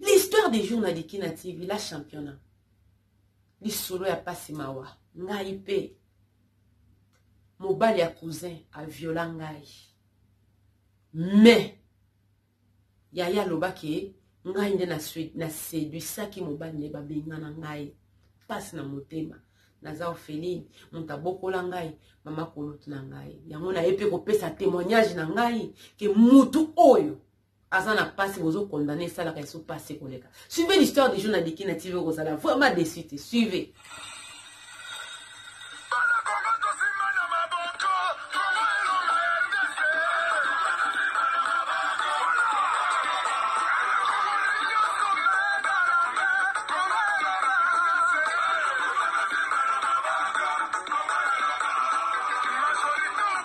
l'histoire des jours na liki na tv la championna lisolo ya pasi mawa ngai mpe mobali ya cousin aviola ngai mais yaya alobaki ngai nde na seduisaki mobali nde babengana ngai mpasi na motema naza orpheline moto abokola ngai mama koloto na ngai yango naye mpe kopesa témoignage na ngai ke mutu oyo aza na pasi bozo condamne esalaka esu pasi koleka suivez l'histoire du jour na diki na tv okozala vraiment déçu te suivez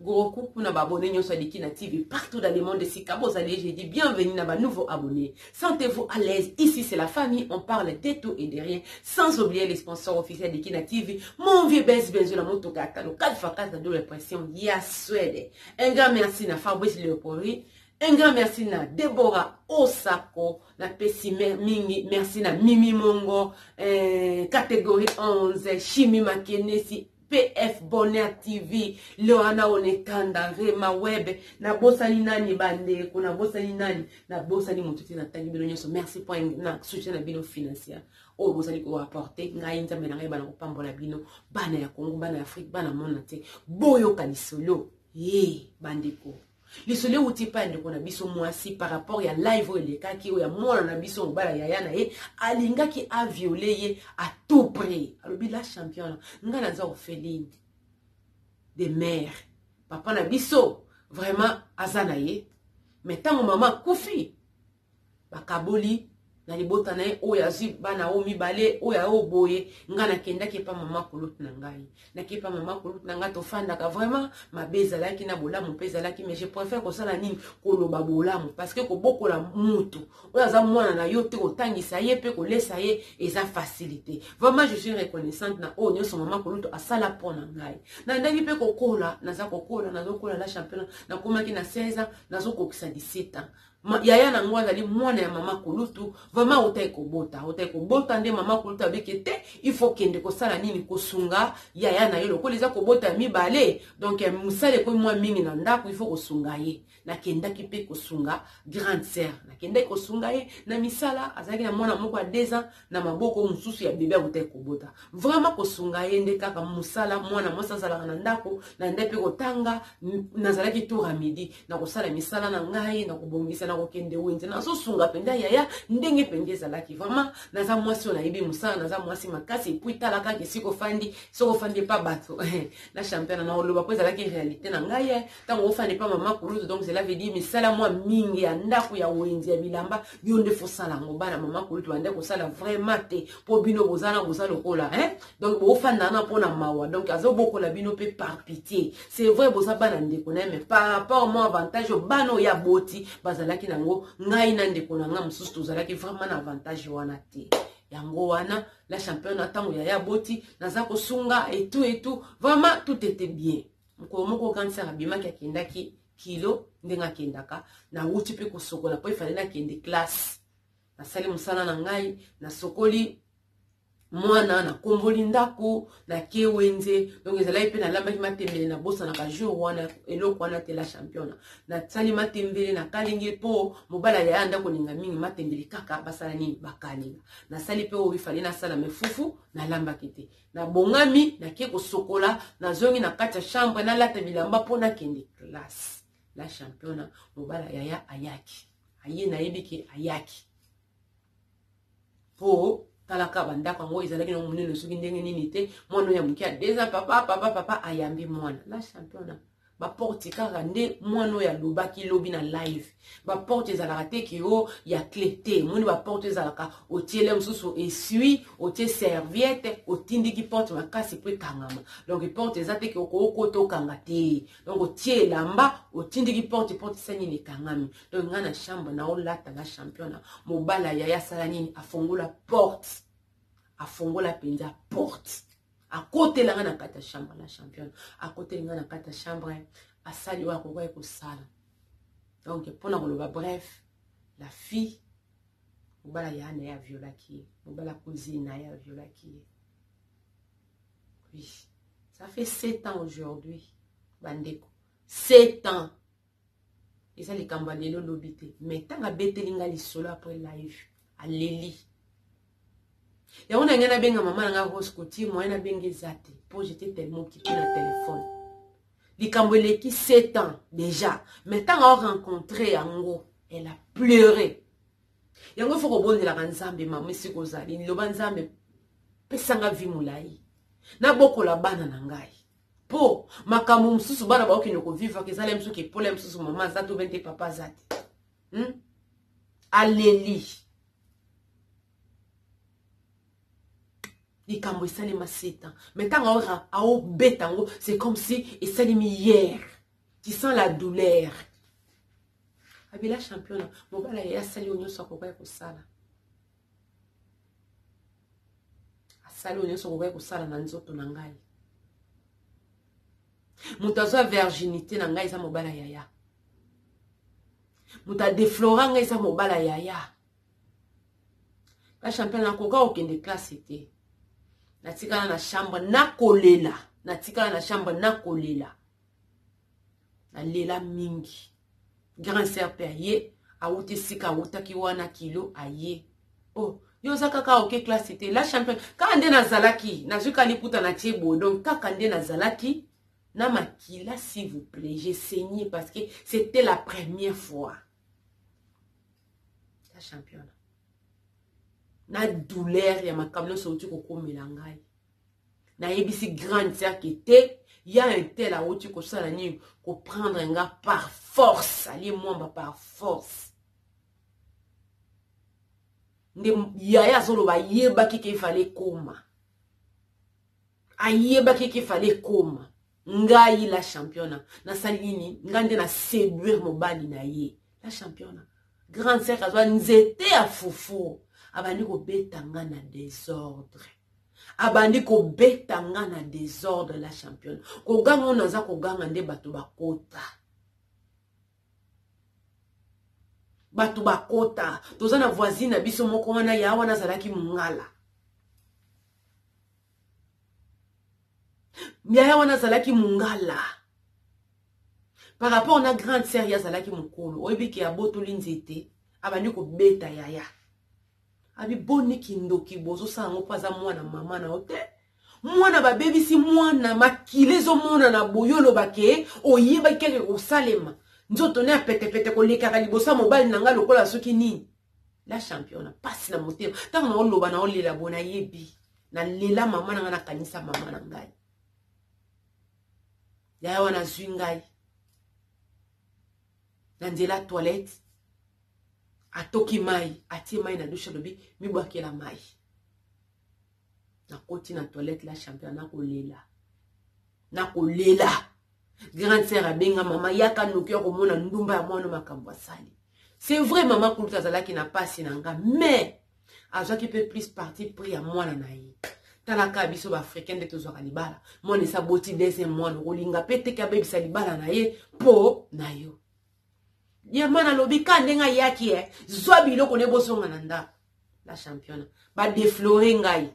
Gros coucou na ba abonnés nyonso ya Dikina TV partout dans le monde esika bozali je dis bienvenue na ba nouveaux abonnés. Sentez-vous à l'aise. Ici c'est la famille, on parle de tout et de rien sans oublier les sponsors officiels Dikina TV. Mon vieux Bez Benzo la motoka atalo 4 fois 4 na double pression ya Suède. Un grand merci na Fabrice Leopoldi. Un grand merci na Deborah Osako, na Pessi Mingi, merci na Mimi Mongo, euh, catégorie 11, Chimie Makenesi, PF Bonheur TV, Leoana Onetanda, Rema Web, nabosani nani bandeko, nabosani nani, nabosani moto te natangi bino nyonso. Merci mpo na soutien na bino financier oyo bozali koapporte ngai nzambe na ngai bana kopambola bino bana ya kongo bana ya afrike bana mona te boyoka lisolo ye bandeko lisolo euti epai ya ndeko na biso mwasi par rapport ya live oyo elekaki oyo ya mwana na biso mobala yaya na ye alingaki aviole ye a tout prix alobi la championa ngai naza orpheline de mare papa na biso vraiment aza na ye me ntango mama akufi bakaboli na libota na ye oyo azwi bana oyo mibale oyo ayo boye ngai nakendaki epa mama kulute na ngai naki epa mama kulute na ngai tofandaka vraiment mabe ezalaki na bolamu mpe ezalaki mais je préfère kosala nini koloba bolamu parce que kobokola mutu oyo aza mwana na yo te kotangisa ye mpe kolesa ye eza facilité vraiment je suis reconnaissante na oyo nyonso mama kulute asala mpo na ngai nandaki mpe kokola naza kokola nazokola la championnat nakomaki na 16 ans nazokokisa 17 ans Ma, yaya na yango azali mwana ya mama kulutu vraimen autaki kobota autaki kobota nde mama kulutu abiki te il faut kende kosala nini kosunga yaya na ye lokola eza kobota ya mibale donc eh, mosala ekomi mwa mingi na ndako il faut kosunga ye nakendaki mpe kosunga grande sœur nakendaki kosunga ye na misala azalaki na mwana moko ya deux ans na maboko mosusu ya bebe akutaki kobota vraiment kosunga ye nde kaka mosala mwana mwasi azalaka na ndako na nde mpe kotanga nazalaki tour ya midi na kosala misala na ngai na kobongisa na kokende wenze nazosunga mpenza yaya ndenge mpenza ezalaki vraiment naza mwasi oyo nayebi mosala naza mwasi makasi epui tala kaka esika ofandi soki ofandi epa bato na championa na oloba mpo ezalaki réalité na ngai ntango ofanda epa mama kulutu donc cela veut dire misala mwa mingi ya ndako ya wenzi ya bilamba yo nde fosala yango bana mama kulutu bande kosala vraiment te mpo bino boza na boza lokola hein donc bofanda wana mpo na mawa donc azobokola bino mpe par pitie c'est vrai boza bana ndeko na ye mais par rapport mwa avantage oyo bana oyo aboti bazalaki na yango ngai na ndeko na ngai mosusu tozalaki vraiment na avantage wana te yango wana la champion na ntango yaya aboti naza kosunga etu etu vraiment tout était bien mokolo moko okanisaka bimaki akendaki kilo ndenge akendaka nawuti mpe kosokola mpo efale nakende classe nasali mosala na ngai nasokoli mwana nakomboli ndako nake wenze donc ezalaki mpe nalambaki matembele nabosanaka jour wana eloko wana te la championa nasali matembele nakalingi mpo mobali ayaya ndako olinga mingi matembele kaka basala nini bakalinga nasali mpe oyo ifale nasala me fufu nalambaki te Nabongami, nake kosokola, nazongi na kati ya chambre, nalata bilamba mpo nakende classe. La championa, mobala yaya ayaki. Aye nayebi ke ayaki. Mpo talaka bandako yango ezalaki nango monene soki ndenge nini te mwana oyo ya moke ya deux ans papa papa papa ayambi mwana la championa ba porte kaka nde mwana oyo alobaki lobi na live ba porte ezalaka te ke o oh, ya cle te moni ba porte ezalaka otiele mosusu esui otie serviette otindiki porte makasi mpo ekangama donc porte eza te ke okokota okanga te donc otie elamba otindiki porte porte esa nini ekangami donc ngai na chambre na olata na championa mobala yaya asala nini afongola porte afongola mpenza porte akotela nga na kati ya chambre la championne akoteli nga na kati ya chambre asali oyo akokaki kosala donc mpo na koloba bref la fille mobala ya na ye aviolaki ye mobala cousine na ye aviolaki ye oui ça fait sept ans aujourd'hui bandeko sept ans eza likambo ya lelo lobi te mais ntango abeteli ngai lisolo après live aleli yango na ngai nabenga mama na ngai rose cotier moyen nabenga eza te mpo jete tellement kipe na telefone likambo eleki 7 ans déjà mais ntango arencontre yango elle a pleure yango fo kobondelaka nzambe mama esika ozali liloba nzambe pesanga vi molai nabokola bana na ngai po makambo mosusu bana baokende kovivaka ezala ya mosusu kepola ya mosusu mama aza to bente papa aza te hmm? aleli likambo esalema seta mai ntango aobeta yango c'est comme si esalemi hier tu sens la douleur abela championa mobala ye asali yo nyonso akoka ya kosala asali oyo nyonso okokaki kosala na nzoto na ngai moto azwa virginité na ngai eza mobala yaya moto adeflora ngai eza mobala yaya la champion nakoka kokende classe te natikala na chambre nakolela natikala na chambre nakolela nalela mingi grand sœur pe aye awuti esika awutaki wana kilo aye oh yo oza kaka oke classe te la champion kaka nde nazalaki nazwi ka liputa na tie boye donc kaka nde nazalaki na makila s'il vous plaît j'ai saigné parce que c'était la première fois la championne na douleur ya makambo nyonso outi kokomela ngai nayebisi grande sœur ke te ya un tel awuti kosala nini koprendre nga par force alie mwamba par force nde yaya azoloba ayebaki ke efale ekoma ayebaki ke efale ekoma ngai la championa nasali nini ngai nde na seduire mobali na ye la championa grande sœur azwa nzete ya fufu abandi kobeta nga na desordre abandi kobeta nga na desordre la championa koganga oyo naza koganga nde bato bakota bato bakota toza na voisine na biso moko wana ya wana azalaki mongala yaya wana azalaki mungala par rapport na grande sœur ye azalaki mokolo oyebi ke abotoli nzete abandi kobeta yaya abi boni kindoki bozosala yango mpo aza mwana mama na yo te mwana babebisi mwana makila ezomonana boye oloba ke oyebaki keke kosalema nzoto ne ya petepete kolekaka liboso ya mobali na ngai lokola soki nini la championa pasi na motema ntango naoloba naolela boye nayebi nalela mama na ngai nakanisa mama na ngai yaya wana azwi ngai na nzela toilette atoki mai atie mai na dushe alobi mibwakela mai nakoti na toilette la champion nakolela nakolela grande sœur abenga mama yaka noki ya komona ndumba ya mwana makambo asali c'est vrai mama kuluta azalaki na pasi na nga mais azwaki mpe plus parti prix ya mwana na ye talaka biso baafricain nde tozwaka libala mwana esi aboti deuxième mwana okolinga mpe teke abebisa libala na ye mpo na yo ye mwana alobi ka ndenge ayaki e zwa biloko nde bozonga na ndako la championa badeflore ngai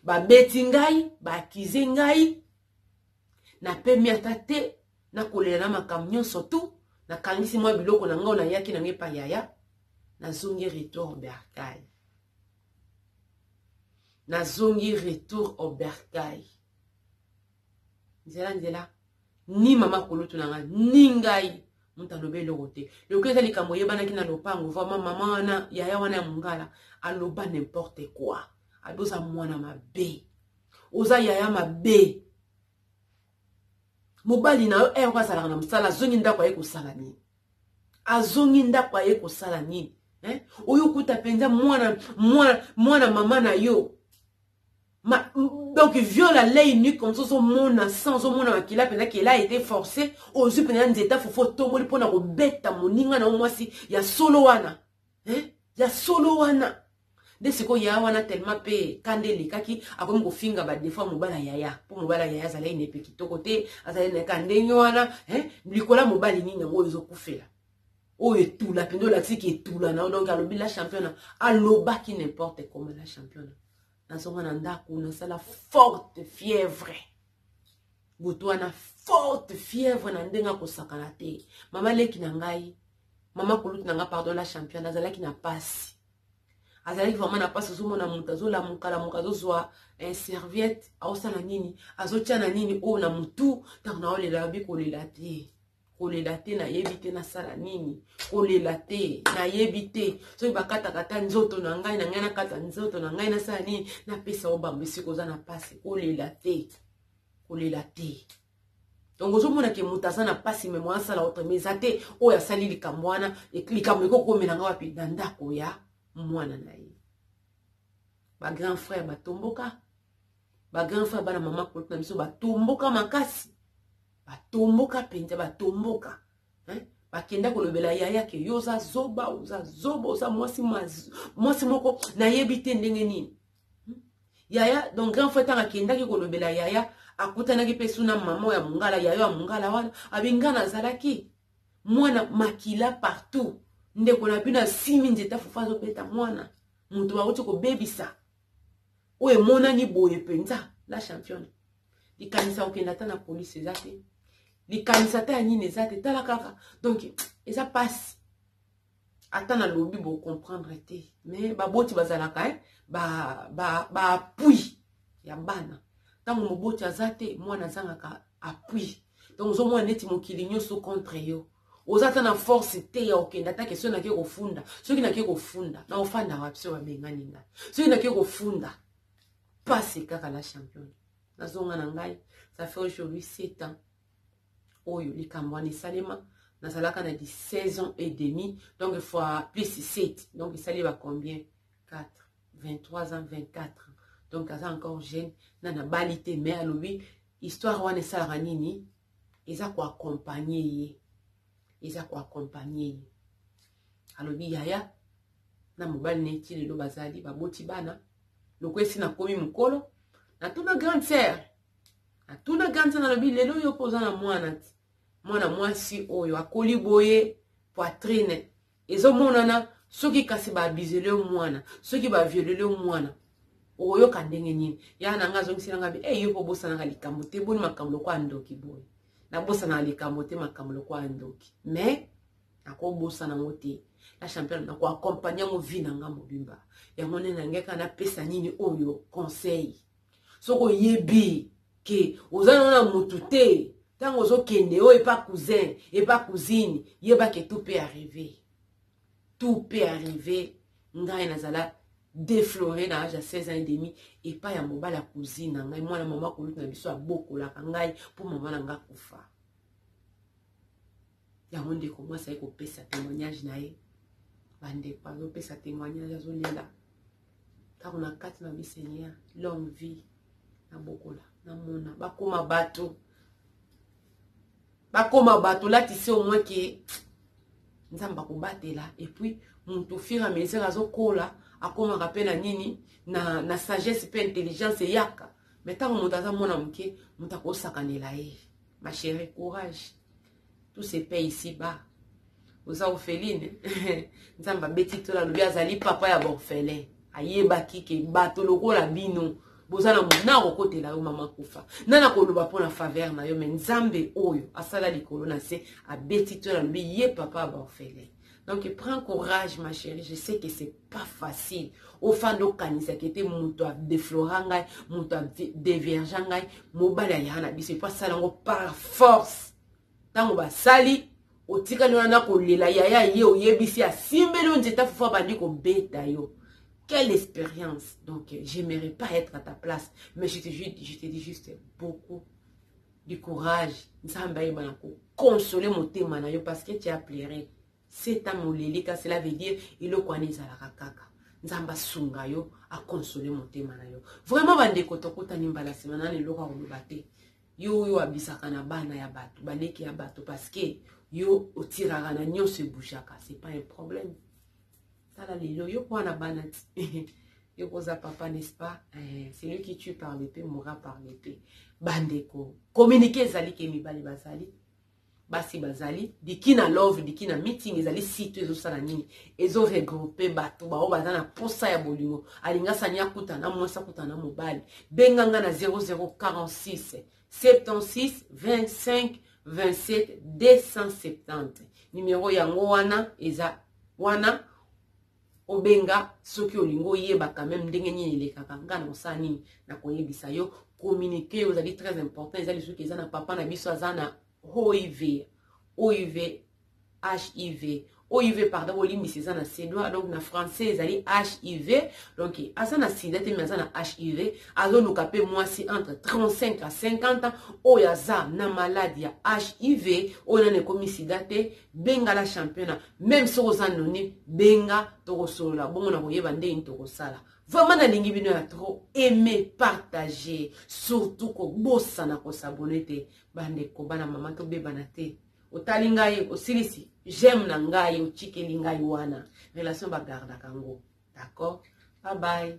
babeti ngai baakize ngai Na pemi ata te, na kolela na makambo nionso tout, na kangisi mwa biloko na nga oyo na yaki na nga epa yaya, na zongi retour au bercail. Na zongi retour au bercail. Nzela nzela, ni mama kulutu na nga, ni ngai, moto alobi eloko te lokola eza likambo oyebanaki na lopango vraimen mama wana yaya wana ya mongala aloba n'importe quoi alobi oza mwana mabe oza yaya mabe mobali na yo ere eh, azalaka na mosala azongi ndako aye kosala nini azongi ndako aye kosala nini eh? oyo okuta mpenza mwana mwana mwana mama na yo Ma, donc viol à l'œil nu comme ça ozomona sans ozomona makila mpenza kela ete forcé ozwi mpenza nzeta fufu otomboli mpo na kobeta moninga na yo mwasi ya solo wana eh? ya solo wana nde sikoyo yaya wana tellement mpe kanda elekaki akomi kofinga badefo ya mobala yaya mpo mobala yaya azalaki na epe kitoko te azalaki na ka ndenge wana eh? likolo ya mobali nini yango oyo ezokufela oyo etula mpenza olakisi ki etula na yo donc alobi la championa alobaki n'importe comment la championa nazonga na ndako nasala forte fièvre moto wana forte fièvre na ndenge akosakana te mama leki na ngai mama kulutu na ngai pardon la championne azalaki na mpasi azalaki vraimen na mpasi ozomona moto azolamuka-lamuka azozwa eh, serviette aosala nini azotia na nini oyo oh, na motu ntango naolela yobi kolela te kolela te nayebi te nasala nini kolela te nayebi te soki bakataka ata nzoto na ngai na ngai nakata nzoto na ngai nasala nini napesa o bango esika oza na mpasi kolela te kolela te donc ozomona ke moto aza na mpasi me mwana asala otrema eza te oyo asali likambo wana likambo ekokomela ngai wapi na ndako ya mwana na ye bagrand frère batomboka ba grand frère bana mama koti na biso batomboka makasi batomboka mpenza batomboka hein? bakenda kolobela yaya ke yo oza zoba oza zoba oza mwasi mwasi moko nayebi te ndenge nini hmm? yaya donc grand frère ntango akendaki kolobela yaya akutanaki mpe suna mama ya mongala yayo ya mongala wana abinga nazalaki mwana makila partout ndeko na bino asimi nzete afufa azobeta mwana moto bauti kobebisa oyo emonani boye mpenza la championne likanisi ya kokenda ata na polisi eza te likanisi ata ya nini eza te tala kaka donk eza mpasi ata nalobi bocomprendre te mais baboti bazalaka eh? baapui ba, ba ya bana ntango moboti aza te mwana azangaka appui donc ozomona neti mokili nyonso contre yo oza ata na force te ya okenda atake soki nake kofunda soki nake kofunda na ofanda wapi soki babengani ngai soki nake kofunda pase kaka la championne nazonga na ngai ça fait aujourd'hui 7 ans oyo likambo wana esalema nazalaka na 16 ans et demi donc fois plus 7 donc esali ba combien 4 23 ans 24 ans donc aza encore jeune na nabali te mais alobi histoire wana esalaka nini eza ko accompagner ye eza ko accompagner ye alobi yaya na mobali na ye ti lelo bazali baboti bana lokola esi nakomi mokolo natuna grande sœur natuna grande sœur nalobi lelo yo mpo oza na mwana ti mwana mwasi oyo akoli boye poitrine ezomonana soki kasi ba abusele yo mwana soki ba violele yo mwana okoyoka ndenge nini ya na nga azongisi na nga bi hey, eh, yo mpo obosanaka likambo te boni makambo lokola ndoki boye nabosanaka likambo te makambo lokola ndoki mais nakobosana yango te na champion nako accompagne yango vi na nga mobimba yango nde nangeka napesa nini oyo conseil soki oyebi ke oza nango na motu te ntango ozokende oyo epa cousin epa cousine yeba ke tout peut arrive tout peut arrive ngai nazala deflore na age ya 16 ans et demi epa ya mobali ya cousine na ngai mwana mama kolutu na biso abokolaka ngai mpo mama na ngai akufa yango ndeko mwasi aye kopesa témoignage na ye bandeko azopesa témoignage azolela ntango na kati na bisenia longue vie na bokola na mona bakoma bato bakoma bato latisi omwe ke nzambe akobatela epuis moto fur a mesure azokola akomaka mpe na nini na, na sagesse mpe intelligence eyaka me ntango moto aza mwana moke moto akosakanela ye ma chérie courage tout se paye ici bas oza orpheline nzambe abeti tola alobi azali papa ya baorphelin ayebaki ke bato lokola bino boza na mona akokotela yo mama kufa nani akoloba mpo na faveur na yo me nzambe oyo asala likolo na se abeti tola alobi ye papa ya baorphelin donc prends courage ma chérie je sais que c'est pas facile ofanda okanisaka ete moto adeflora ngai moto adeverge ngai mobali ayaka na biso epo asala yango par force ntango basali otikali wana na kolela yaya ye oyebisi asimbeli yo nzete afufu abandi kobeta yo quelle expérience donc j'aimerais pas être à ta place mais je te, je te dis juste beaucoup du courage nzambe ayeba na kokonsole motema na yo parce que tu as pleure cet ame olelika cela veut dire eloko wana ezalaka kaka nzambe asunga yo akonsole motema na yo vraiment bandeko tokutani mbala nsima nani eloko ya koloba te yo oyo abisaka na bana ya bato baleki ya bato parce que yo otiraka na nyonso ebouchaka c'est pas un problème sala lelo yo kwa na bana ti yo koza papa n'est-ce pas eh, celui qui tue par le paix mourra par le paix bandeko communiqué ezali ke mibali bazali basi bazali diki na love diki na meeting ezali site ezosala nini ezo regroupe bato baoyo baza na mposa ya bolingo alingasani akuta na mwasi akuta na mobali benga nga na 0046 76 25 27 270 nimero yango wana eza wana obenga soki olingi oyeba quand même ndenge nini elekaka nga na kosala nini na koyebisa yo communiquer ozali très important eza lisusu eza na papa na biso aza na hiv hiv hiv hiv pardon bolimbisi eza na suédois donc na français ezali hiv donc aza na sida te mais aza na hiv azoluka mpe mwasi entre 35 à 50 ans oyo aza na maladi ya hiv oyo nano ekomi sida te benga la championa meme soki oza noni benga tokosolola bongo na koyeba ndenge tokosala vraiment nalingi bino ya trop aime partage surtout kobosana kosabone te bandeko bana mama tobebana te otali ngai osilisi j'aime na ngai otikeli ngai wana relation bagardaka yango d'accord bye bye